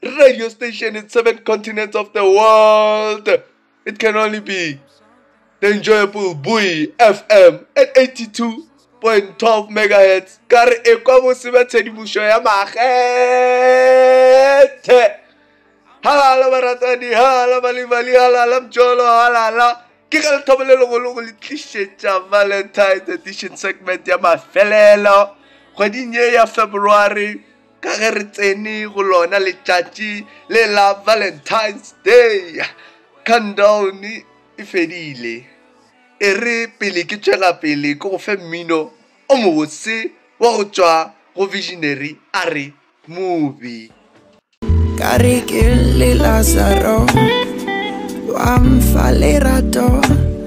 radio station in seven continents of the world. It can only be the enjoyable Boy FM at 82.12 megahertz. Ka re ekwa bose ba tshedimošo ya makgethe. Halala baratani, halala balibali, halala mjolo, halala. Ke ka lethabo le legolo go le tlišetša Valentine's edition segment ya mafelelo kgweding ye ya February ka ge re tsene go lona letšatši le la valentines day countdown e fedile e re pele ke tšwela pele ke go fe mmino o mobotse wa go tšwa go visionary a re movie ka re ke le lazaro wa mfa lerato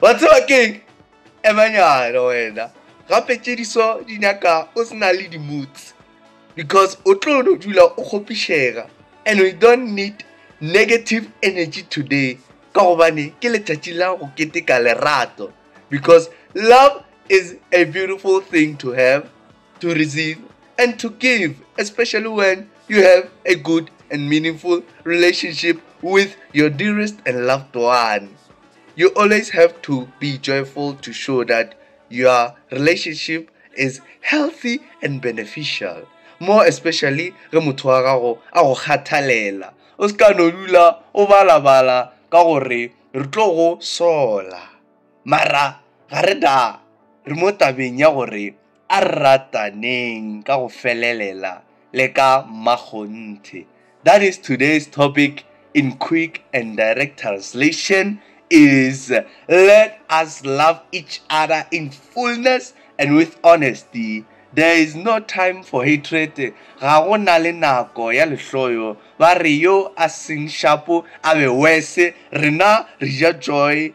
Wa tseba keng? Emanyana wena gape tšediso di nyaka o se na le di-moods because o tlo no dula o kgopišega and we don't need negative energy today ka gobane ke letšatši la go keteka lerato because love is a beautiful thing to have to receive and to give, especially when you have a good and meaningful relationship with your dearest and loved one. You always have to be joyful to show that your relationship is healthy and beneficial. More especially ge motho wa gago a go kgathalela. O se ka no dula o balabala ka gore re tlo go sola. Mara ga re da re mo tabeng ya gore A re rataneng ka go felelela le ka mmakgonthe. That is today's topic in quick and direct translation is let us love each other in fullness and with honesty. There is no time for hatred, ga go na le nako ya lehloyo, ba re yo a seng shapo a be worse, rena re ja joy,